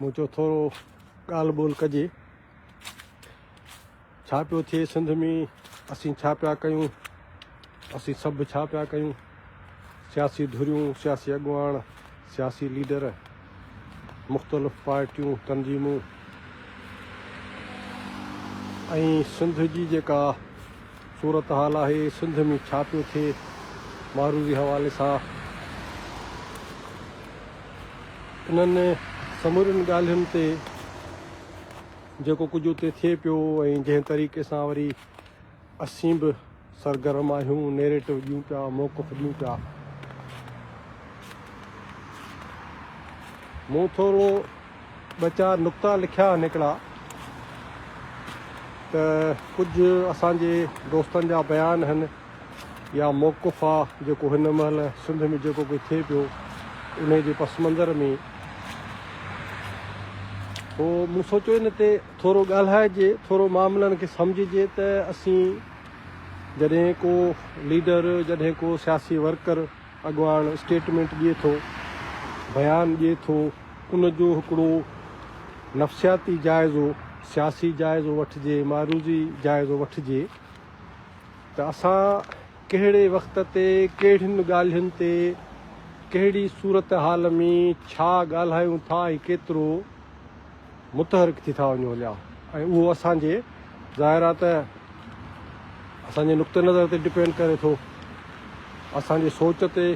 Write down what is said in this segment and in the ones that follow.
مون چيو ٿورو ڳالهه ٻولهه ڪجي ڇا پيو ٿئي سنڌ ۾ اسين ڇا پيا ڪيون اسين سڀ ڇا پيا ڪيون سياسي ڌريون سياسي اڳواڻ سياسي ليڊر مختلف پارٽيون تنظيمون ۽ سنڌ جي جيڪا صورتحال آهي سنڌ ۾ ڇا پيو ٿئي معروضي حوالي سان انهن سمورين ڳالهين تي جيڪو ڪجهه اتي ٿئي پيو ۽ جنهن طريقي سان وري اسين به سرگرم آهيون نيريٽو ڏيون پيا موقف ڏيون پيا مون ٿورو ٻه چار نقطا لکيا نڪڙا ته ڪجهه اسان جي دوستن جا بيان هن يا موقف آ جيڪو هن مهل سنڌ ۾ جيڪو ڪجهه ٿئي پيو انهي جي پس منظر ۾ پو مون سوچيو ان تي ٿورو ڳالهائجي ٿورو معاملن کي سمجهجي ته اسين جڏهن ڪو ليڊر جڏهن ڪو سياسي ورڪر اڳواڻ اسٽيٽمينٽ ڏئي ٿو، بيان ڏئي ٿو، ان جو هڪڙو نفسياتي جائزو، سياسي جائزو وٺجي، معروضي جائزو وٺجي ته اسان ڪهڙي وقت تي ڪهڙين ڳالهين تي ڪهڙي صورتحال ۾ ڇا ڳالهايون ٿا ۽ ڪيترو؟ متحرڪ ٿي ٿا وڃون هليا ۽ اهو اسان جي ظاهر آهي ته اسان جي نقطه نظر تي ڊپينڊ ڪري ٿو اسان جي سوچ تي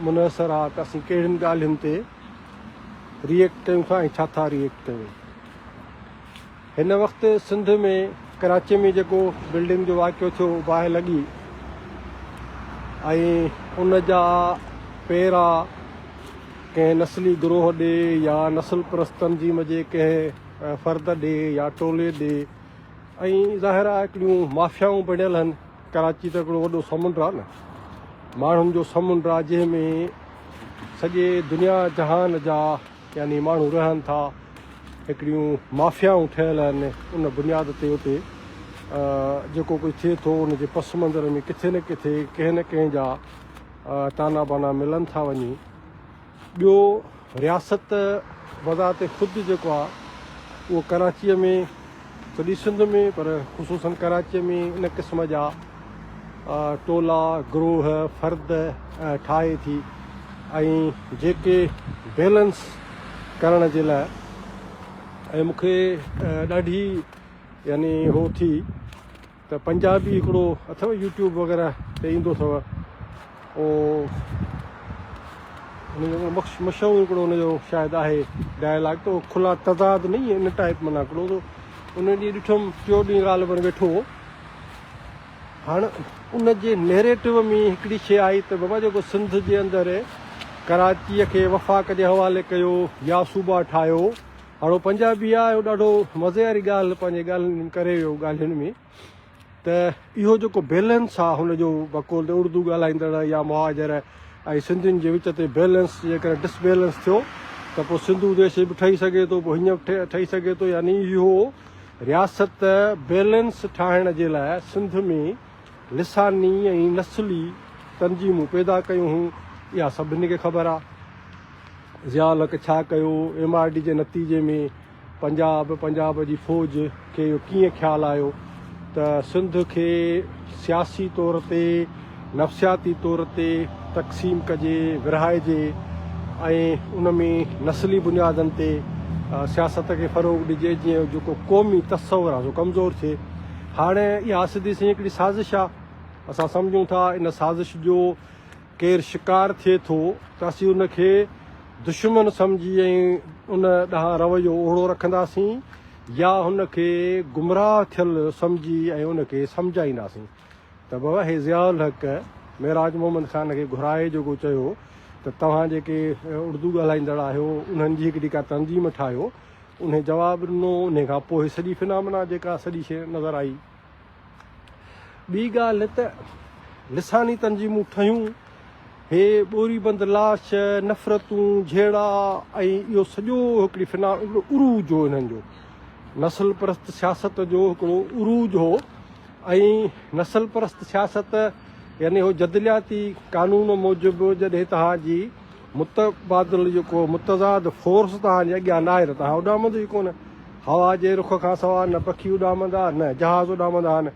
منحصر آهي ته اسين ڪهڙين ڳالهين تي ريئيڪٽ ڪيون ٿا ۽ ڇا ٿا ريئيڪٽ ڪيون هن وقت سنڌ ۾ ڪراچي ۾ جيڪو بلڊنگ جو واقعو ٿيو باهه لڳي ۽ ان جا پيرا ڪنهن نسلي گروهه ڏي يا نسل پرست تنظيم جي ڪنهن فرد ڏي يا ٽولي ڏي ۽ ظاهر آهي هڪڙيون مافيائون بڻيل هن ڪراچي ته هڪڙو وڏو سمنڊ آهي نه ماڻهن جو سمنڊ آهي جنهن ۾ سڄي دنيا جهان جا يعني ماڻهو رهن ٿا هڪڙيون مافيائون ٺهيل آهن ان بنياد تي اتي جيڪو ڪجهه ٿئي ٿو ان جي پس منظر ۾ ڪٿي نه ڪٿي ڪنهن نه ڪنهن جا تانا بانا ملن ٿا وڃي ٻيو رياست بذات خود جيڪو آ اهو ڪراچيء ۾ سڄي سنڌ ۾ پر خصوصن ڪراچيء ۾ ان قسم جا ٽولا، گروهه، فرد ٺاهي ٿي ۽ جيڪي بيلنس ڪرڻ جي لاء ۽ مونکي ڏاڍي يعني هو ٿي. ته پنجابي هڪڙو اٿو يوٽيوب وغيره تي ايندو اٿو او ان جو مشهور هڪڙو ان جو شايد آهي ڊائلاگ تو کلا تضاد نئي ان ٽائپ منا هڪڙو تو ان ڏي ڏٺم ٽيو ڏي ڳالهه پر ويٺو هاڻ ان جي نيريٽو ۾ هڪڙي شي آئي ته بابا جيڪو سنڌ جي اندر ڪراچي کي وفاق جي حوالي ڪيو يا صوبا ٺاهيو هاڻ هو پنجابي آ هو ڏاڍو مزي واري ڳالهه پنهنجي ڳالهين ڪري ويو ڳالهين ۾ ته اهو جيڪو بيلنس آ هن جو بقول ته اردو ڳالهائيندڙ يا مهاجر ۽ سنڌين جي وچ تي بيلنس جيڪڏهن ڊس بيلنس ٿيو ته پوء سنڌو ديش به ٺهي سگهي ٿو پوء هينئن به ٺهي سگهي ٿو يعني اهو رياست بيلنس ٺاهڻ جي لاء سنڌ ۾ لساني ۽ نسلي تنظيمون پيدا ڪيون هيون اها سڀني کي خبر آ. ضياء الحق ڇا ڪيو؟ ايم آر ڊي جي نتيجي ۾ پنجاب، پنجاب جي فوج کي اهو ڪيئن خيال آيو ته سنڌ کي سياسي طور تي، نفسياتي طور تي تقسيم ڪجي، ورهائجي ۽ ان ۾ نسلي بنيادن تي سياست کي فروغ ڏجي جيئن جيڪو قومي تصور آهي سو ڪمزور ٿئي. هاڻي اها سڌي سنئين هڪڙي سازش آهي. اسان سمجهون ٿا ان سازش جو. ڪير شڪار ٿئي ٿو ته اسين ان کي دشمن سمجهي ۽ ان ڏانهن رويو اوهڙو رکنداسين يا هن کي گمراهه ٿيل سمجهي ۽ ان کي سمجهائينداسين ته بابا هي ضياء الحق معراج محمد خان کي گهرائي جيڪو چيو ته توهان جيڪي اڙدو ڳالهائيندڙ آهيو انهن جي هڪڙي ڪا تنظيم ٺاهيو انهي جواب ڏنو انهي کان پوء سڄي فنامنا جيڪا سڄي شيء نظر آئي ٻي ڳالهه ته لساني تنظيمون ٺهيون، هي ٻوري بند لاش، نفرتون، جهيڙا ۽ اهو سڄو هڪڙي فنا هڪڙو عروج هو انهن جو. نسل پرست سياست جو هڪڙو عروج هو ۽ نسل پرست سياست يعني اهو جدلياتي قانون موجب جڏهن توهان جي متبادل جيڪو متضاد فورس توهان جي اڳيان ناهي ته توهان اڏامندو ئي ڪونه. هوا جي رخ کان سواء نه پکي اڏامندا نه جهاز اڏامندا آهن.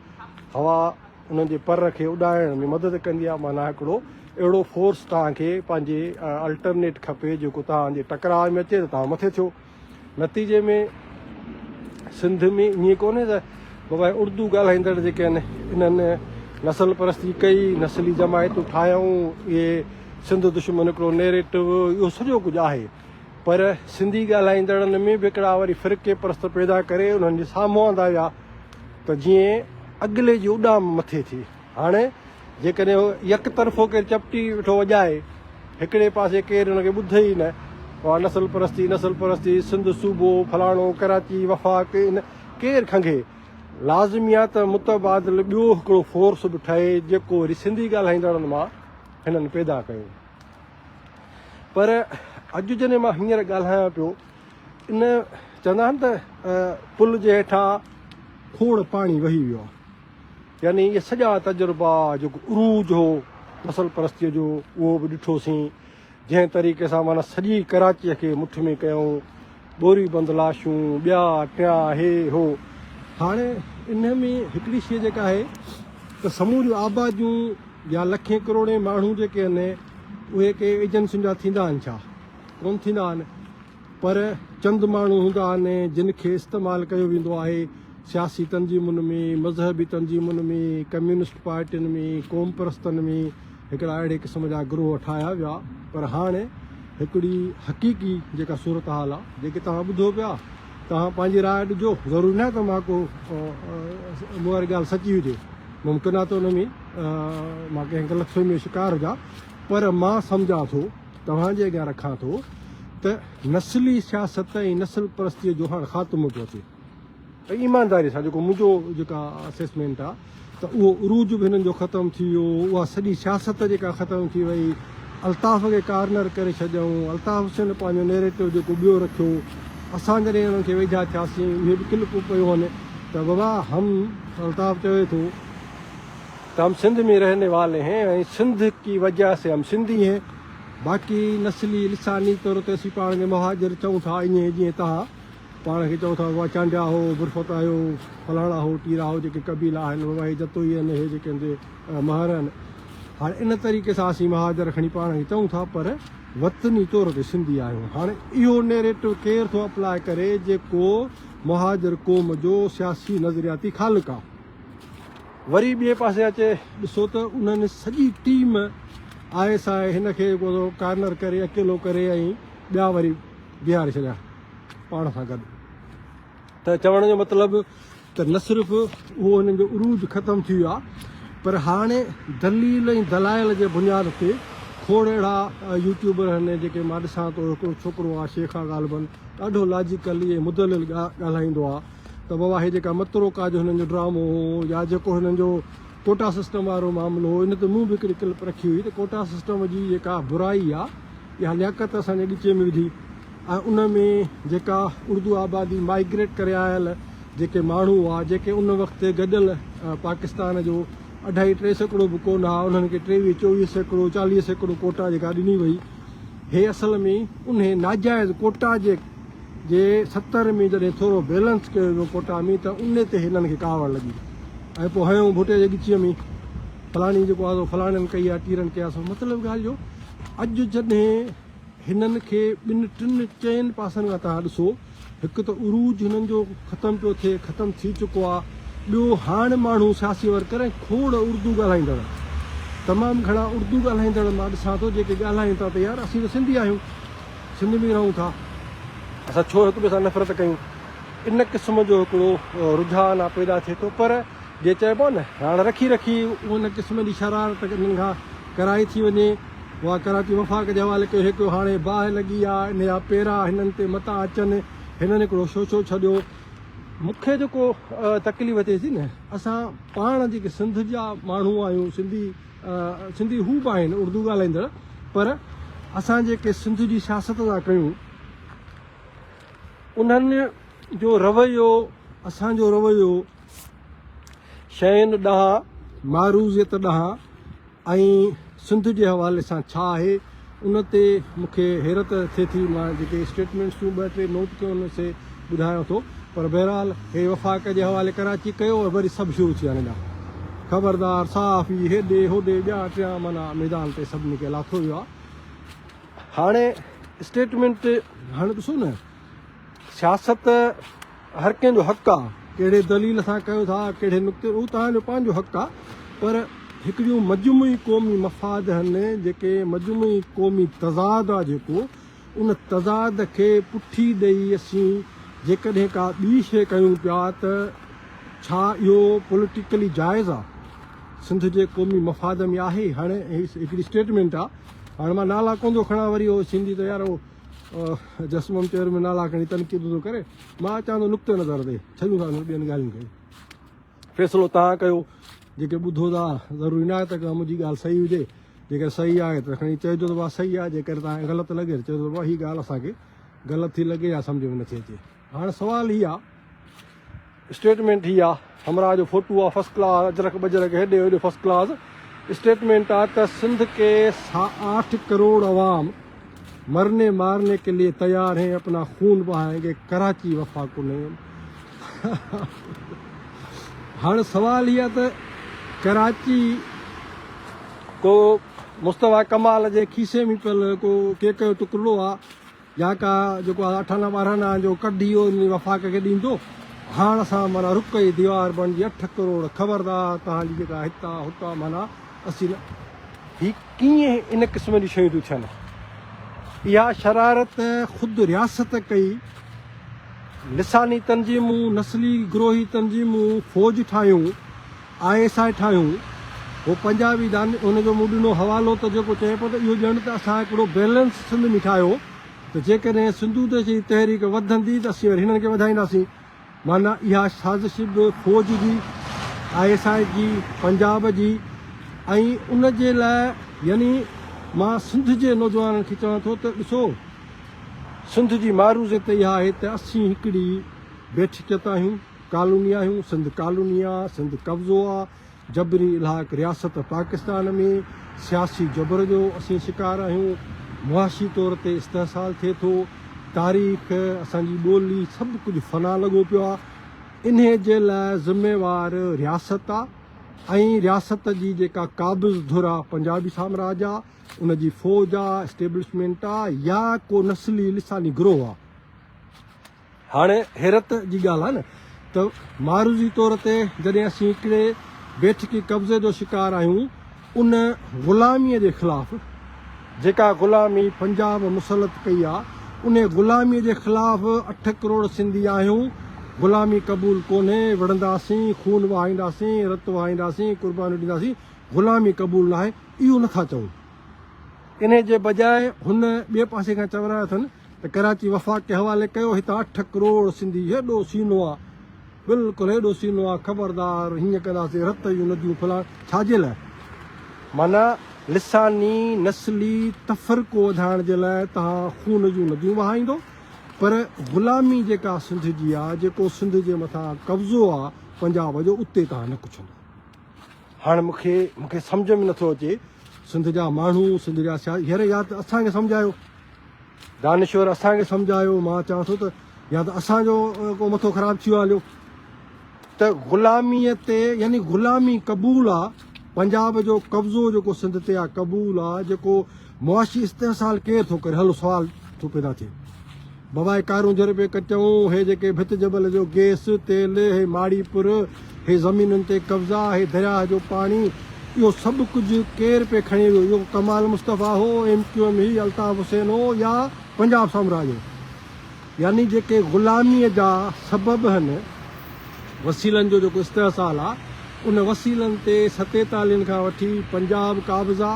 هوا انهن جي پر کي اڏائڻ ۾ مدد ڪندي آهي. معنيٰ هڪڙو اهڙو فورس توهان کي پنهنجي الٽرنيٽ کپي جيڪو توهان جي ٽڪراء ۾ اچي ته توهان مٿي ٿيو. نتيجي ۾ سنڌ ۾ ائين ڪونهي ته بابا اردو ڳالهائيندڙ جيڪي آهن انهن نسل پرستي ڪئي، نسلي جماعتون ٺاهيائون، اهي سنڌ دشمن هڪڙو نيريٽو اهو سڄو ڪجهه آهي پر سنڌي ڳالهائيندڙن ۾ به هڪڙا وري فرقي پرست پيدا ڪري انهن جي سامهون آندا ويا ته جيئن اڳلي جي اڏام مٿي ٿئي. هاڻي جيڪڏهن يڪ طرفو ڪير چپٽي ويٺو وڄائي، هڪڙي پاسي ڪير ان کي ٻڌي ئي نه، اها نسل پرستي، نسل پرستي، سنڌ صوبو، فلاڻو، ڪراچي، وفاق، ان ڪير کنگهي؟ لازمي آهي ته متبادل ٻيو هڪڙو فورس به ٺهي جيڪو وري سنڌي ڳالهائيندڙن مان هنن پيدا ڪيو. پر اڄ جڏهن مان هينئر ڳالهايان پيو ان چوندا آهن ته پل جي هيٺان کوڙ پاڻي وهي ويو آهي. يعني اهي سڄا تجربا جيڪو عروج هو نسل پرستيء جو اهو به ڏٺوسين، جنهن طريقي سان معنيٰ سڄي ڪراچيء کي مٺ ۾ ڪيائون، ٻوري بند لاشون، ٻيا ٽيا، هي هو. هاڻي انهيء ۾ هڪڙي شيء جيڪا آهي ته سموريون آباديون يا لکين ڪروڙين ماڻهو جيڪي آهن اهي ڪي ايجنسين جا ٿيندا آهن ڇا؟ ڪونه ٿيندا آهن پر چند ماڻهو هوندا آهن جن کي استعمال ڪيو ويندو آهي، سياسي تنظيمن ۾، مذهبي تنظيمن ۾، ڪميونسٽ پارٽين ۾، قوم پرستن ۾ هڪڙا اهڙي قسم جا گروهه ٺاهيا ويا پر هاڻي هڪڙي حقيقي جيڪا صورتحال آ جيڪي توهان ٻڌو پيا توهان پنهنجي راء ڏجو ضروري ناهي ته مان ڪو مون واري ڳالهه سچي هجي ممڪن آ ته ان ۾ مان ڪنهن غلط فهمي جو شڪار هجا پر مان سمجهان ٿو توهان جي اڳيان رکان ٿو ته نسلي سياست ۽ نسل پرستي جو هاڻ خاتمو پيو اچي. ۽ ايمانداري سان جيڪو منهنجو جيڪا اسيسمينٽ آ ته اهو عروج به هنن جو ختم ٿي ويو اها سڄي سياست جيڪا ختم ٿي وئي الطاف کي ڪارنر ڪري ڇڏيائون الطاف حسين پنهنجو نيريٽو جيڪو ٻيو رکيو اسان جڏهن انهن کي ويجها ٿياسين اهي به ڪلپون پيون هن ته بابا هم الطاف چوي ٿو ته هم سنڌ ۾ رهني والي هين ۽ سنڌ ڪي وجهه سي هم سنڌي هين باقي نسلي لساني طور تي اسين پاڻ کي مهاجر چئون ٿا ائين جيئن تهان پاڻ کي چئو ٿا اها چانڊيا هو، برفت آهيو، فلاڻا هو، ٽيرا هو جيڪي قبيلا آهن بابا هي جتوئي آهن هي جيڪي هندي مهر آهن هاڻ ان طريقي سان اسين مهاجر کڻي پاڻ کي چئون ٿا پر وطني طور تي سنڌي آهيون هاڻ اهو نيريٽو ڪير ٿو اپلاء ڪري جيڪو مهاجر قوم جو سياسي نظرياتي خالق آهي وري ٻئي پاسي اچي ڏسو ته انهن سڄي ٽيم آء ايس آء هن کي ڪارنر ڪري اڪيلو ڪري ۽ ٻيا وري بيهاري ڇڏيا پاڻ سان گڏ ته چوڻ جو مطلب ته نه صرف اهو انهن جو عروج ختم ٿي ويو آهي پر هاڻي دليل ۽ دلائل جي بنياد تي کوڙ اهڙا يوٽيوبر آهن جيڪي مان ڏسان ٿو هڪڙو ڇوڪرو آهي شيخ آهي غالبن ڏاڍو لاجيڪلي ۽ مدلل ڳالهائيندو آهي ته بابا هي جيڪا متروڪا جو هنن جو ڊرامو هو يا جيڪو هنن جو ڪوٽا سسٽم وارو معاملو هو ان تي مون به هڪڙي ڪلپ رکي هئي ته ڪوٽا سسٽم جي جيڪا برائي آهي اها لياقت اسان جي ڳچيء ۾ وڌي ۽ ان ۾ جيڪا اردو آبادي مائيگريٽ ڪري آيل جيڪي ماڻهو هئا جيڪي ان وقت گڏيل پاڪستان جو اڍائي ٽي سيڪڙو به ڪونه هئا انهن کي ٽيويهه چوويهه سيڪڙو چاليهه سيڪڙو ڪوٽا جيڪا ڏني وئي هي اصل ۾ انهي ناجائز ڪوٽا جي جي ستر ۾ جڏهن ٿورو بيلنس ڪيو ويو ڪوٽا ۾ ته ان تي هنن کي ڪاوڙ لڳي ۽ پوء هنيو ڀٽي جي ڳچيء ۾ فلاڻي جيڪو آزو فلاڻين ڪئي يا ٽيرن ڪئي آسو مطلب ڳالهه جو اڄ جڏهن هنن کي ٻن ٽن چئن پاسن کان تان ڏسو هڪ ته عروج هنن جو ختم پيو ٿئي ختم ٿي چڪو آ ٻيو هاڻ ماڻهو سياسي ور ڪرين کوڙ اردو ڳالهائيندڙ تمام گهڻا اردو ڳالهائيندڙ مان ڏسان ٿو جيڪي ڳالهائين ٿا ته يار اسين ته سنڌي آهيون سنڌ ۾ رهون ٿا اسان ڇو هڪ ٻئي سان نفرت ڪيون ان قسم جو هڪڙو رجحان آ پيدا ٿئي ٿو پر جيئن چئبو نه راڙ رکي رکي ان قسم جي شرارت انهن کان ڪرائي ٿي وڃي اها ڪراچي وفاق جي حوالي ڪيو هيڪيو هاڻي باهه لڳي آ ان جا پيرا هنن تي متا اچن هنن هڪڙو شوشو ڇڏيو مون کي جيڪو تڪليف ٿئي ٿي نه اسان پاڻ جيڪي سنڌ جا ماڻهو آهيون سنڌي سنڌي هو به آهن اردو ڳالهائيندڙ پر اسان جيڪي سنڌ جي سياست ٿا ڪيون انهن جو رويو اسان جو رويو شين ڏانهن، معروضيت ڏانهن ۽ سنڌ جي حوالي سان ڇا آهي ان تي مون کي حيرت ٿئي ٿي. مان جيڪي اسٽيٽمينٽس تون ٻه ٽي نوٽ ڪيون آهن سي ٻڌايان ٿو پر بهرحال هي وفاق جي حوالي ڪراچي ڪيو ۽ وري سڀ شروع ٿي ويا ننڊا خبردار صحافي هيڏي هوڏي ٻيا ٽيا معنيٰ ميدان تي سڀني کي لاٿو ويو آهي هاڻي اسٽيٽمينٽ هاڻي ڏسو نه سياست هر ڪنهن جو حق آ ڪهڙي دليل سان ڪيو ٿا ڪهڙي نقطي هو توهان جو پنهنجو حق آ پر هڪڙيون مجموعي قومي مفاد هن جيڪي مجموعي قومي تضاد آ جيڪو ان تضاد کي پٺي ڏئي اسين جيڪڏهن ڪا ٻي شي ڪيون پيا ته ڇا اهو پوليٽيڪلي جائز آ سنڌ جي قومي مفاد ۾ آهي هاڻي هڪڙي اسٽيٽمينٽ آ هاڻي مان نالا ڪون ٿو کڻان وري هو سنڌي ته يار هو جسمم چير ۾ نالا کڻي تنقيد ٿو ڪري مان اچان ٿو نقطه نظر تي ڇڏيون ٿا ٻين ڳالهين کي فيصلو تان ڪيو جيڪي ٻڌو ٿا ضروري نه آهي ته منهنجي ڳالهه صحيح هجي جيڪر صحيح آهي ته کڻي چئجو ته صحيح آهي جيڪر تان غلط لڳي ته چئجو ته هي ڳالهه اسان کي غلط ٿي لڳي يا سمجھ ۾ نٿي اچي هاڻ سوال هي آ اسٽيٽمينٽ هي آ همراهه جو فوٽو آ فرسٽ ڪلاس اجرڪ بجرڪ هيڏي هوڏي فرسٽ ڪلاس اسٽيٽمينٽ آ ته سنڌ ڪي آٺ ڪروڙ عوام مرني مارني ڪي ليي تيار هين اپنا خون بهائين گي ڪراچي وفا ڪو نهين هاڻ سوال هي آ ته ڪراچي ڪو مصطفيٰ ڪمال جي کيسي ۾ پيل ڪو ڪيڪ جو ٽڪرڙو آ يا ڪا جيڪو اٺانا ٻارهانا جو ڪڍ اهو انهي وفاق کي ڏيندو. هاڻ اسان معنيٰ رڪ جي ديوار بڻجي اٺ ڪروڙ خبردار توهان جي جيڪا هتا هتا معنيٰ اسين نه. هي ڪيئن ان قسم جون شيون ٿيون ٿين. اها شرارت خود رياست ڪئي. لساني تنظيمون، نسلي گروهي تنظيمون فوج ٺاهيون. آء ايس آء ٺاهيون هو پنجابي داني ان جو مون ڏنو حوالو ته جيڪو چئي پيو ته اهو ڄڻ ته اسان هڪڙو بيلنس سنڌ ۾ ٺاهيو ته جيڪڏهن سنڌو ديش جي تحريڪ وڌندي ته اسين وري هنن کي وڌائينداسين معنيٰ اها سازش به فوج جي آء ايس آء جي پنجاب جي ۽ ان جي لاء يعني مان سنڌ جي نوجوانن کي چوان ٿو ته ڏسو سنڌ جي معروضي ته اها آهي ته اسين هڪڙي بيٺڪ تي آهيون ڪالوني آهيون، سنڌ ڪالوني آ، سنڌ قبضو آ، جبري الحاق رياست پاڪستان ۾، سياسي جبر جو اسين شڪار آهيون، معاشي طور تي استحصال ٿئي ٿو، تاريخ، اسان جي ٻولي سڀ ڪجهه فنا لڳو پيو آ، انهي جي لاء ذميوار رياست آ ۽ رياست جي جيڪا قابض ڌر آ پنجابي سامراج آ، ان جي فوج آ، اسٽيبلشمينٽ آ يا ڪو نسلي لساني گروهه آ. هاڻي حيرت جي ڳالهه آهي نه ته معروضي طور تي جڏهن اسين هڪڙي بيٺڪي قبضي جو شڪار آهيون ان غلاميء جي خلاف جيڪا غلامي پنجاب مسلط ڪئي آ ان غلاميء جي خلاف اٺ ڪروڙ سنڌي آهيون غلامي قبول ڪونهي وڙهنداسين خون وهائينداسين رت وهائينداسين قربانيون ڏينداسين غلامي قبول ناهي اهو نٿا چئون انهي جي بجاء هن ٻئي پاسي کان چورائي اٿن ته ڪراچي وفاقي حوالي ڪيو هتان اٺ ڪروڙ سنڌي هيڏو سينو آ بلڪل هيڏو سينو آ خبردار هيئن ڪنداسين رت جون نديون ڦلاڻ ڇا جي لاء معنيٰ لساني نسلي تفرقو وڌائڻ جي لاء توهان خون جون نديون وهائيندو پر غلامي جيڪا سنڌ جي آ جيڪو سنڌ جي مٿان قبضو آ پنجاب جو اتي توهان نه ڪڇندو. هاڻ مون کي مون کي سمجهه ۾ نٿو اچي سنڌ جا ماڻهو سنڌ جا سياست هير يا ته اسان کي سمجهايو دانشور اسان کي سمجهايو مان چاهان ٿو ته يا ته اسان جو ڪو مٿو خراب ٿيو هليو ته غلامي تي يعني غلامي قبول آ پنجاب جو قبضو جيڪو سنڌ تي آ قبول آ جيڪو معاشي استحصال ڪير ٿو ڪري؟ هلو سوال ٿو پيدا ٿئي. بابا هي ڪارون جر پي ڪچون، هي جيڪي ڀت جبل جو گيس، تيل، هي ماڙي پر، هي زمينن تي قبضا، هي درياهه جو پاڻي، اهو سڀ ڪجهه ڪير پي کڻي ويو؟ اهو ڪمال مصطفيٰ هو، ايم ڪيو ايم هئي، الطاف حسين هو يا پنجاب سامراج هو؟ يعني جيڪي غلاميء جا سبب هن وسيلن جو جيڪو استحصال آ ان وسيلن تي ستيتالين کان وٺي پنجاب قابض آ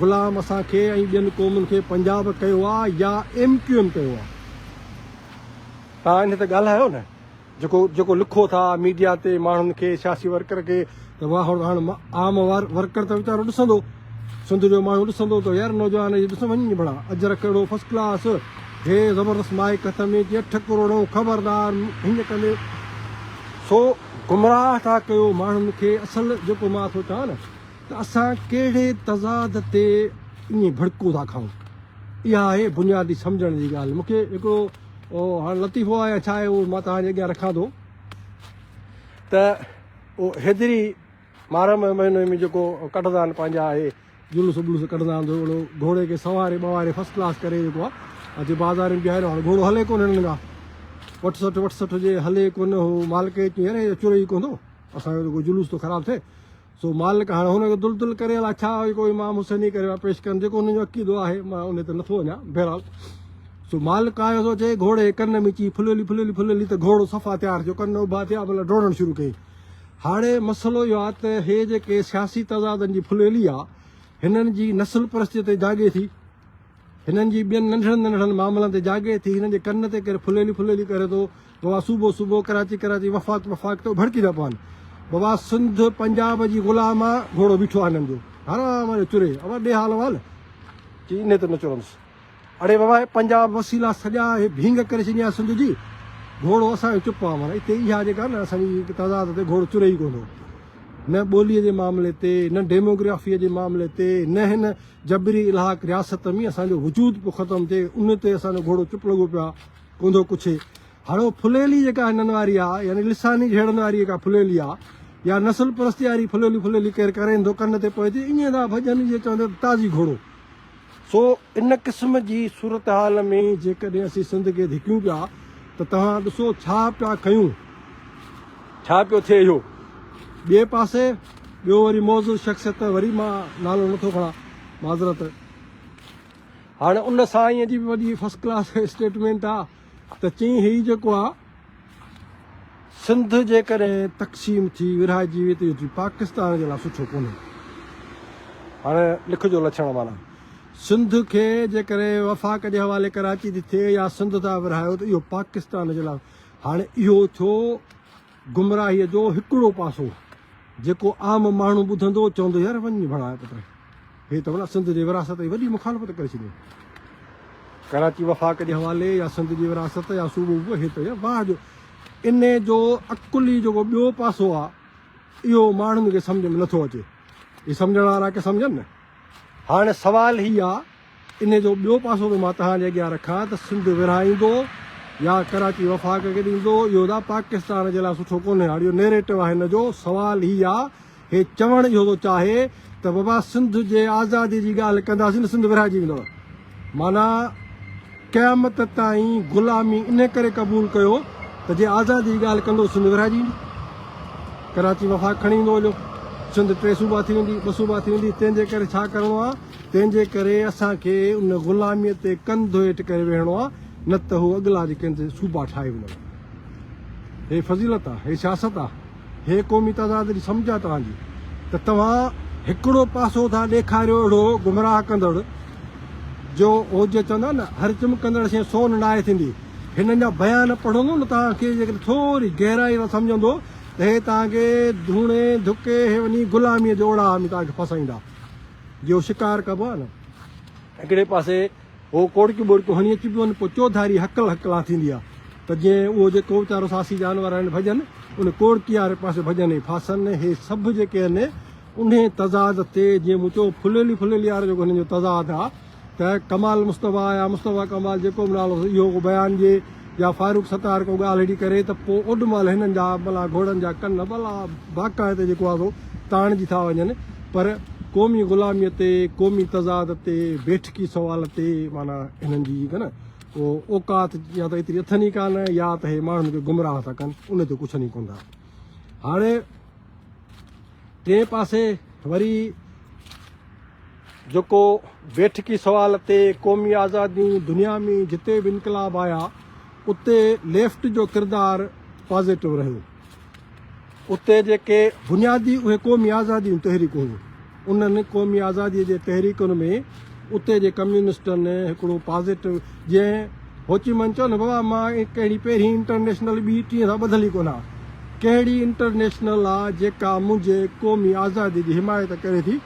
غلام اسان کي ۽ ٻين قومن کي پنجاب ڪيو آ يا ايم ڪيو ايم ڪيو آ. تان انهي تي ڳالهايو نه. جيڪو جيڪو لکو ٿا ميڊيا تي ماڻهن کي سياسي ورڪر کي ته واهه هڙ هاڻ عام ورڪر ته ويچارو ڏسندو سنڌ جو ماڻهو ڏسندو ته يار نوجوان هي ڏس وڃ ڀلا اجرڪ اهڙو فرسٽ ڪلاس هي زبردست مائڪ هٿ ۾ ڪي اٺ ڪروڙو خبردار هن ڪندي سو گمراهه ٿا ڪيو ماڻهن کي اصل جيڪو مان سوچان نه ته اسان ڪهڙي تضاد تي ائين ڀڙڪون ٿا کائون اها آهي بنيادي سمجھڻ جي ڳالهه مونکي هڪڙو او هاڻ لطيفو آهي يا ڇا آهي اهو مان توهان جي اڳيان رکان ٿو ته او هيدري محرم مهيني ۾ جيڪو ڪڍندا آهن پنهنجا اهي جلوس وبلوس ڪڍندا آهن ٿورو گهڻو گهوڙي کي سنواري ٻواري فرسٽ ڪلاس ڪري جيڪو آهي اچي بازار ۾ بيهاريو هاڻ گهوڙو هلي ڪونه هنن کان وٺ سٺ وٺ سٺ جي هلي ڪونه هو مالڪ چيو يار چوري ڪون ٿو اسان جو جلوس ٿو خراب ٿئي سو مالڪ هاڻ هن کي دل دل ڪري الا ڇا هي ڪو امام حسين ئي ڪري پيش ڪن جيڪو هن جو عقيدو آهي مان ان تي نٿو وڃان بهرحال سو مالڪ آيو سو چي گهوڙي ڪن ۾ چي ڦلولي ڦلولي ڦلولي ته گهوڙو صفا تيار ٿيو ڪن اڀا ٿيا مطلب ڊوڙڻ شروع ڪئي هاڻي مسئلو اهو آهي ته هي جيڪي سياسي تضادن جي ڦلولي آهي هنن جي نسل پرستي تي جاڳي ٿي هنن جي ٻين ننڍڙن ننڍڙن معاملن تي جاڳي ٿي هنن جي ڪن تي ڪير ڦلولي ڦلولي ڪري ٿو بابا صوبو صوبو ڪراچي ڪراچي وفاق وفاق ته اڀڙڪي نه پون بابا سنڌ پنجاب جي غلام آ گهوڙو بيٺو آ هنن جو حرام جو چري اما ڏي حال وال چي اني ته نه چرنس اڙي بابا هي پنجاب وسيلا سڄا هي ڀينگ ڪري ڇڏي آ سنڌ جي گهوڙو اسان جو چپ آ مانا اتي اها جيڪا نه اسان جي تعداد تي گهوڙو چري ئي ڪوندو نه ٻولي جي معاملي تي نه ڊيموگرافي جي معاملي تي نه هن جبري الحاق رياست ۾ اسان جو وجود پيو ختم ٿئي ان تي اسان جو گهوڙو چپ لڳو پيو آ ڪونڌو ڪڇي. هاڻو ڦليلي جيڪا هنن واري آ يعني لساني جهيڙن واري جيڪا ڦليلي آ يا نسل پرستي واري ڦليلي ڦليلي ڪير ڪرين ٿو ڪن تي پوئتي ايئن ٿا ڀڄن جيئن چون ته تازي گهوڙو. سو ان قسم جي صورتحال ۾ جيڪڏهن اسين سنڌ کي ڌڪيون پيا ته توهان ڏسو ڇا پيا ڪيون ڇا پيو ٿئي اهو. ٻئي پاسي ٻيو وري معزز شخصيت وري مان نالو نٿو کڻان معذرت. هاڻ ان سائينء جي به وڏي فرسٽ ڪلاس اسٽيٽمينٽ آ ته چيئين هي جيڪو آ سنڌ جيڪڏهن تقسيم ٿي ورهائجي ويئي ته اهو چيئي پاڪستان جي لاء سٺو ڪونهي هاڻ لک جو لڇڻ معنيٰ سنڌ کي جيڪڏهن وفاق جي حوالي ڪراچي ٿي ٿئي يا سنڌ ٿا ورهايو ته اهو پاڪستان جي لاء هاڻ اهو ٿيو گمراهيء جو هڪڙو پاسو جيڪو عام ماڻهو ٻڌندو چوندو يار وڃ ڀلا پٽ هي ته ڀلا سنڌ جي ورهاست جي وڏي مخالفت ڪري ڇڏيو ڪراچي وفاق جي حوالي يا سنڌ جي ورهاست يا صوبو ووبو هي ته واهه جو ان جو عقلي جيڪو ٻيو پاسو آ اهو ماڻهن کي سمجهه ۾ نٿو اچي هي سمجهڻ وارا ڪي سمجهن نه هاڻي سوال هي آ انهيء جو ٻيو پاسو به مان توهان جي اڳيان رکان ته سنڌ ورهائيندو يا ڪراچي وفاق کي ڏيندو، اهو ادا پاڪستان جي لاء سٺو ڪونهي. هاڻ اهو نيريٽو آهي هن جو، سوال هي آ، هي چوڻ اهو ٿو چاهي ته بابا سنڌ جي آزادي جي ڳالهه ڪنداسين ته سنڌ ورهائجي ويندو. معنيٰ قيامت تائين غلامي انهيء ڪري قبول ڪيو ته جي آزادي جي ڳالهه ڪندو سنڌ ورهائجي ويندي. ڪراچي وفاق کڻي ايندو هليو، سنڌ ٽي صوبا ٿي ويندي، ٻه صوبا ٿي ويندي، تنهن جي ڪري ڇا ڪرڻو آ؟ تنهن جي ڪري اسان کي ان غلاميء تي ڪن ڌوئيٽ ڪري ويهڻو آ، نه ته هو اڳلا جي ڪن تي صوبا ٺاهي وڃن ها. هي فضيلت آ، هي سياست آ، هي قومي تضاد جي سمجهه آ توهان جي ته توهان هڪڙو پاسو ٿا ڏيکاريو اهڙو گمراهه ڪندڙ جو هو جيئن چوندا آهن نه هر چمڪندڙ شيء سون ناهي ٿيندي. هنن جا بيان پڙهندو نه توهان کي جيڪڏهن ٿوري گهرائي سان سمجهندو ته هي توهان کي ڌوڻي ڌڪي هي وڃي غلاميء جي اوڙاهه ۾ توهان کي ڦاسائيندا. جو شڪار ڪبو آهي نه هڪڙي پاسي هو ڪوڙڪيون ٻوڙڪيون هڻي اچبيون آهن پوء چوڌاري هڪل هڪلان ٿيندي آهي ته جيئن اهو جيڪو ويچارو ساسي جانور آهن ڀڄن ان ڪوڙڪي واري پاسي ڀڄن ۽ ڦاسن هي سڀ جيڪي آهن انهي تضاد تي جيئن مون چيو ڦليلي ڦليلي وارو جيڪو هنن جو تضاد آهي ته ڪمال مصطفيٰ يا مصطفيٰ ڪمال جيڪو به نالو اهو ڪو بيان ڏئي يا فاروق ستار ڪو ڳالهه اهڙي ڪري ته پوء اوڏ مهل هنن جا ڀلا گهوڙن جا ڪن ڀلا باڪا هتي جيڪو آهي سو تاڻجي ٿا وڃن پر قومي غلاميء تي قومي تضاد تي بيٺڪي سوال تي معنيٰ هنن جي جيڪا نه او اوقات يا ته ايتري اٿن ئي ڪانه يا ته هي ماڻهن کي گمراهه ٿا ڪن ان تي ڪڇن ئي ڪون ٿا هاڻي ٽئين پاسي وري جيڪو بيٺڪي سوال تي قومي آزادي دنيا ۾ جتي به انقلاب آيا اتي ليفٽ جو ڪردار پازيٽو رهيو اتي جيڪي بنيادي اهي قومي آزادي جون تحريڪون هيون انهن قومي آزادي جي تحريڪن ۾ اتي جي ڪميونسٽن هڪڙو پازيٽو جنهن هوچيمن چيو نه بابا مان ڪهڙي پهرين انٽرنيشنل ٻي ٽي سان ٻڌل ئي ڪونه ڪهڙي انٽرنيشنل آ جيڪا منهنجي قومي آزادي جي حمايت ڪري ٿي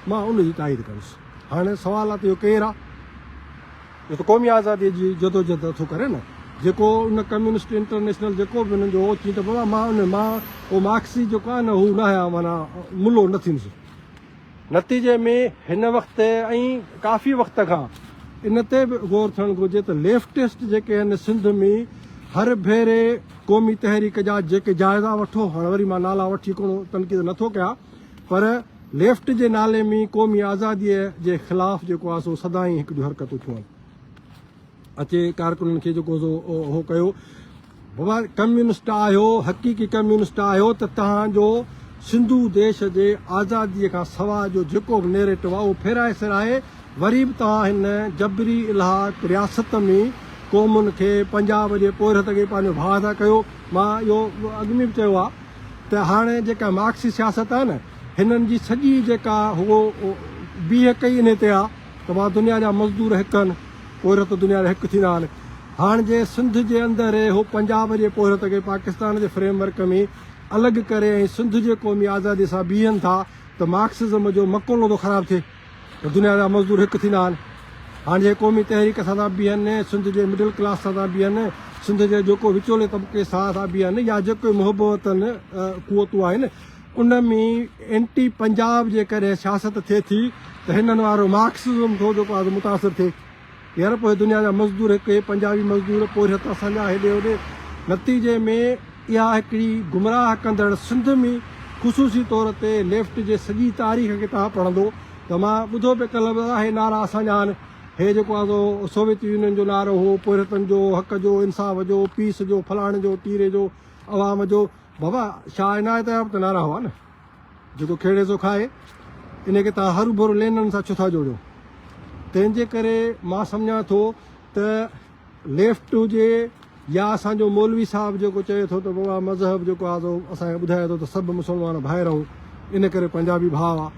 مان ان جي تائيد ڪندس. هاڻي سوال آهي ته اهو ڪير آهي؟ اهو ته قومي آزاديء جي جدوجهد ٿو ڪري نه. جيڪو ان ڪميونسٽ انٽرنيشنل جيڪو به انهن جو اهو چيٽ بابا مان ان مان اهو مارڪسي جيڪو آهي نه هو نه آهيان معنيٰ ملو نه ٿيندس. نتيجي ۾ هن وقت ۽ ڪافي وقت کان ان تي به غور ٿيڻ گهرجي ته ليفٽسٽ جيڪي آهن سنڌ ۾ هر ڀيري قومي تحريڪ جا جيڪي جائزا وٺو هاڻي وري مان نالا وٺي ڪونه تنقيد نه ٿو ڪيان پر ليفٽ جي نالي ۾ قومي آزاديء جي خلاف جيڪو آهي سو سدائين هڪ جون حرڪتون ٿيون اچي ڪارڪنن کي جيڪو سو اهو ڪيو بابا ڪميونسٽ آهيو حقيقي ڪميونسٽ آهيو ته تهان جو سنڌو ديش جي آزاديء کان سوا جو جيڪو به نيريٽو آهي اهو ڦيرائي سرائي وري به توهان هن جبري الحاق رياست ۾ قومن کي پنجاب جي پورهيت کي پنهنجو ڀاء ٿا ڪيو مان اهو اڳ ۾ به چيو آهي ته هاڻي جيڪا مارڪسي سياست آهي نه هنن جي سڄي جيڪا هو بيهڪ ئي انهي تي آهي ته مان دنيا جا مزدور هڪ هن پورهيت دنيا جا هڪ ٿيندا آهن هاڻ جي سنڌ جي اندر اهي هو پنجاب جي پورهيت کي پاڪستان جي فريم ورڪ ۾ الڳ ڪري ۽ سنڌ جي قومي آزادي سان بيهن ٿا ته مارڪسزم جو مقولو ٿو خراب ٿئي. ته دنيا جا مزدور هڪ ٿيندا آهن. هاڻ جي قومي تحريڪ سان ٿا بيهن، سنڌ جي مڊل ڪلاس سان ٿا بيهن، سنڌ جي جيڪو وچولي طبقي سان ٿا بيهن يا جيڪي محبوطن قوتون آهن ان ۾ اينٽي پنجاب جيڪڏهن سياست ٿئي ٿي ته هنن وارو مارڪسزم ٿو جيڪو آهي سو متاثر ٿئي. يورپ ۽ دنيا جا مزدور هڪ هي پنجابي مزدور پورهيت اسان جا هيڏي هوڏي نتيجي ۾ اها هڪڙي گمراهه ڪندڙ سنڌ م خصوصي طور تي ليفٽ جي سڄي تاريخ کي توهان پڙهندو ته مان ٻڌو پي ڪل ته اهي نعرا اسان جا آهن هي جيڪو آهي سو سوويت يونين جو نعرو هو پورهيتن جو حق جو انصاف جو پيس جو فلاڻي جو ٽيري جو عوام جو بابا شاهه عنايت جا به ته نعرا هئا نه. جيڪو کيڙي سو کائي، ان کي توهان هرو ڀرو لينن سان ڇو ٿا جوڙيو؟ تنهن جي ڪري مان سمجهان ٿو ته ليفٽ هجي يا اسان جو مولوي صاحب جيڪو چئي ٿو ته بابا مذهب جيڪو آهي سو اسان کي ٻڌائي ٿو ته سڀ مسلمان ڀائر آهون، ان ڪري پنجابي ڀاء آهي.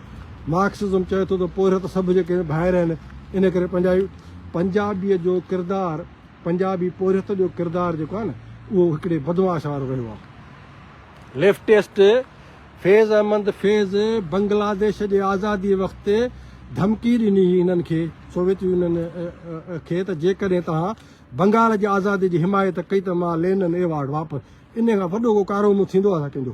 مارڪسزم چئي ٿو ته پورهيت سڀ جيڪي ڀائر آهن، ان ڪري پنجابي. پنجابيء جو ڪردار، پنجابي پورهيت جو ڪردار جيڪو آهي نه، اهو هڪڙي بدمعاش وارو رهيو آهي. ليفٽسٽ فيض احمد فيض بنگلاديش جي آزادي وقت ڌمڪي ڏني هئي انهن کي، سوويت يونين کي ته جيڪڏهن توهان بنگال جي آزادي جي حمايت ڪئي ته مان لينن ايوارڊ واپس انهي کان وڏو ڪو ڪارونو ٿيندو آهي ڇا ڪنهن جو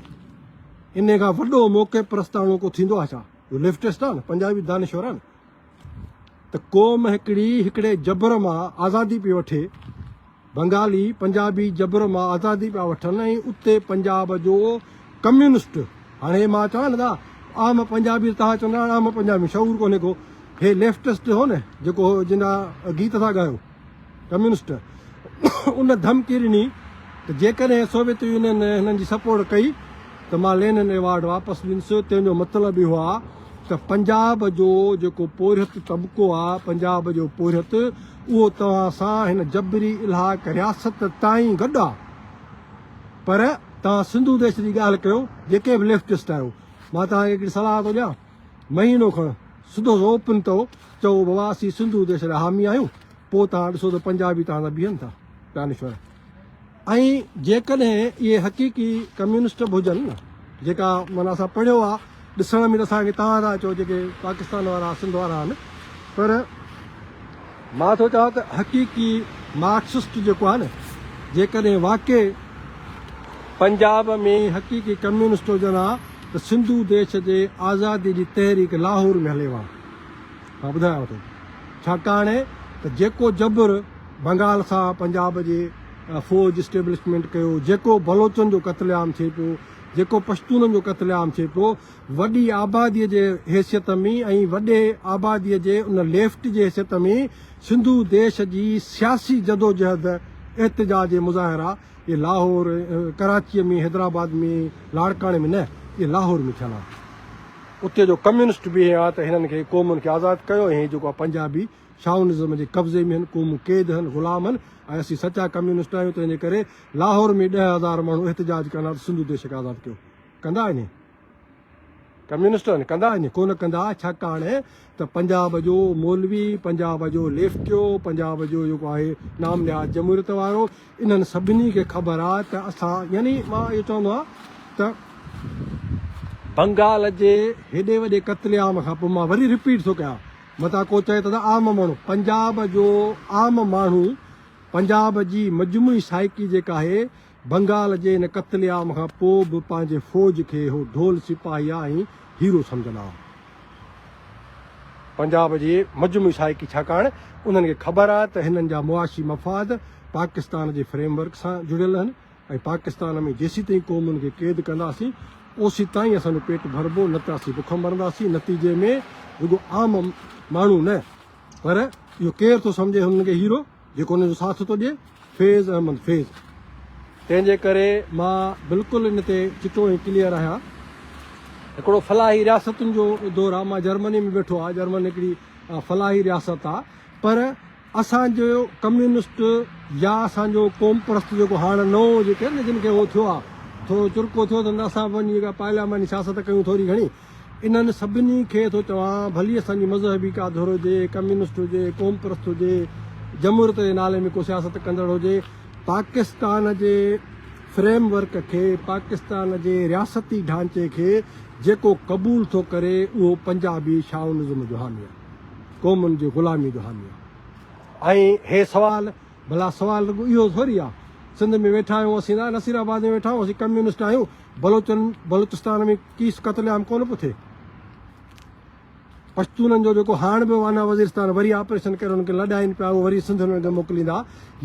انهي کان وڏو موقعي پرستاڻو ڪو ٿيندو آهي ڇا جو ليفٽسٽ آهي نه پنجابي دانشور آهي نه. ته قوم هڪڙي هڪڙي جبر مان آزادي پئي وٺي، بنگالي پنجابي جبر مان آزادي پيا وٺن ۽ اتي پنجاب جو ڪميونسٽ هاڻي مان چوان لڳا عام پنجابي توهان چوندا عام پنجابي شعور ڪونهي ڪو هي ليفٽسٽ هو نه جيڪو جنهن گيت ٿا ڳايو. ڪميونسٽ ان ڌمڪي ڏني ته جيڪڏهن سوويت يونين هنن جي سپورٽ ڪئي ته مان لينن ايوارڊ واپس ڏينس، تنهن جو مطلب اهو آهي ته پنجاب جو جيڪو پورهيت طبقو آهي، پنجاب جو پورهيت، اهو توهان سان هن جبري الحاق رياست تائين گڏ آهي. پر توهان سنڌو ديش جي ڳالهه ڪيو، جيڪي به ليفٽسٽ آهيو، مان توهان کي هڪڙي صلاح ٿو ڏيان. مهينو کڻ سڌو روپن تئو چئو بابا اسين سنڌو ديش جا حامي آهيون پوء توهان ڏسو ته پنجابي توهان سان بيهن ٿا دانشور ۽ جيڪڏهن اهي حقيقي ڪميونسٽ به هجن نه جيڪا مانا اسان پڙهيو آهي ڏسڻ ۾ اسان کي توهان ٿا چئو جيڪي پاڪستان وارا سنڌ وارا آهن پر مان ٿو چوان ته حقيقي مارڪسسٽ جيڪو آهي نه جيڪڏهن واقعي پنجاب ۾ ئي حقيقي ڪميونسٽ هجن ها ته سنڌو ديش جي آزادي جي تحريڪ لاهور ۾ هلي ها. مان ٻڌايانو ٿو ڇاڪاڻ ته جيڪو جبر بنگال سان پنجاب جي فوج اسٽيبلشمينٽ ڪيو جيڪو بلوچن جو قتل عام ٿئي پيو جيڪو پشتونن جو قتل عام ٿئي پيو وڏي آباديء جي حيثيت ۾ ۽ وڏي آباديء جي ان ليفٽ جي حيثيت ۾ سنڌو ديش جي سياسي جدوجهد، احتجاج ۽ مظاهرا اهي لاهور، ڪراچيء ۾ حيدرآباد ۾ لاڙڪاڻي ۾ نه، اهي لاهور ۾ ٿيل ها. اتي جو ڪميونسٽ به اهي ها ته هنن کي قومن کي آزاد ڪيو ۽ هي جيڪو پنجابي شاونزم جي قبضي ۾ هن، قومون قيد هن، غلام هن ۽ اسين سچا ڪميونسٽ آهيون تنهن جي ڪري لاهور ۾ ڏهه هزار ماڻهو احتجاج ڪرڻ سنڌو ديش کي آزاد ڪيو. ڪندا آهن اهي ڪميونسٽ آهن ڪندا آهن اهي ڪونه ڪندا ڇاڪاڻ ته پنجاب جو مولوي پنجاب جو ليفٽيو پنجاب جو جيڪو آهي نام نهاد جمهوريت وارو انهن سڀني کي خبر آهي ته اسان يعني مان اهو چوندو آهيان ته بنگال جي هيڏي وڏي قتل عام کان پوء مان وري رپيٽ ٿو ڪيان متان ڪو چئي ته عام ماڻهو پنجاب جو عام ماڻهو پنجاب جي مجموعي سائيڪي جيڪا آهي بنگال جي ان قتل عام کان پوء به پنهنجي فوج کي هو ڍول سپاهيء ۽ هيرو سمجهندا هئا. پنجاب جي مجموعي سائيڪي ڇاڪاڻ انهن کي خبر آهي ته هنن جا معاشي مفاد پاڪستان جي فريم ورڪ سان جڙيل آهن ۽ پاڪستان ۾ جيسيتائين قومن کي قيد ڪنداسين اوسيتائين اسان جو پيٽ ڀربو نه ته اسين بک مرنداسين نتيجي ۾ رڳو عام ماڻهو نه پر اهو ڪير ٿو سمجهي هنن کي هيرو جيڪو ان جو ساٿ ٿو ڏئي فيض احمد فيض تنهن جي ڪري مان بلڪل ان تي چٽو ۽ ڪليئر آهيان هڪڙو فلاحي رياستن جو دور آهي مان جرمني ۾ ويٺو آهي جرمن هڪڙي فلاحي رياست آهي پر اسان جو ڪميونسٽ يا اسان جو قوم پرست جيڪو هاڻ نئون جيڪي جن کي هو ٿيو آهي ٿورو چرڪو ٿيو اٿن ته اسان پنهنجي جيڪا پارلياماني سياست ڪيون ٿوري گهڻي انهن سڀني کي ٿو چوان، ڀلي اسان جي مذهبي ڪا ڌر هجي، ڪميونسٽ هجي، قوم پرست هجي، جمهوريت جي نالي ۾ ڪو سياست ڪندڙ هجي، پاڪستان جي فريم ورڪ کي، پاڪستان جي رياستي ڍانچي کي جيڪو قبول ٿو ڪري، اهو پنجابي شائونزم جو حامي آهي، قومن جي غلامي جو حامي آهي. ۽ هي سوال، ڀلا سوال رڳو اهو ٿوري آهي، سنڌ ۾ ويٺا آهيون، اسين ناصرآباد ۾ ويٺا آهيون، اسين ڪميونسٽ آهيون، بلوچن بلوچستان ۾ ڪيس قتل عام ڪونه پيو ٿئي پشتونن جو جيڪو هاڻ به وانا وزيرستان وري آپريشن ڪري انهن کي لڏائين پيا اهو وري سنڌ انهن کي موڪليندا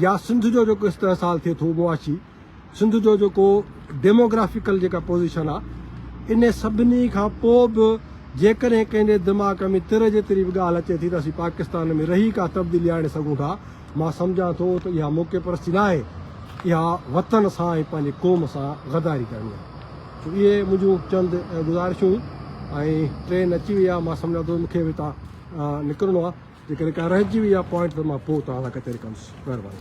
يا سنڌ جو جيڪو استحصال ٿئي ٿو معاشي سنڌ جو جيڪو ڊيموگرافيڪل جيڪا پوزيشن آهي ان سڀني کان پوء به جيڪڏهن ڪنهن جي دماغ ۾ تر جيتري به ڳالهه اچي ٿي ته اسين پاڪستان ۾ رهي ڪا تبديلي آڻي سگهون ٿا مان سمجهان ٿو ته اها موقعي پرستي ناهي، اها وطن سان ۽ پنهنجي قوم سان غداري ڪرڻي آهي. سو اهي منهنجون چند گذارشون ۽ ٽرين اچي وئي آهي مان سمجهان ٿو ته مونکي به هتان نڪرڻو آهي، جيڪڏهن ڪا رهجي وئي آهي پوائنٽ ته مان پوء توهان سان ڪچهري ڪندس. مهرباني.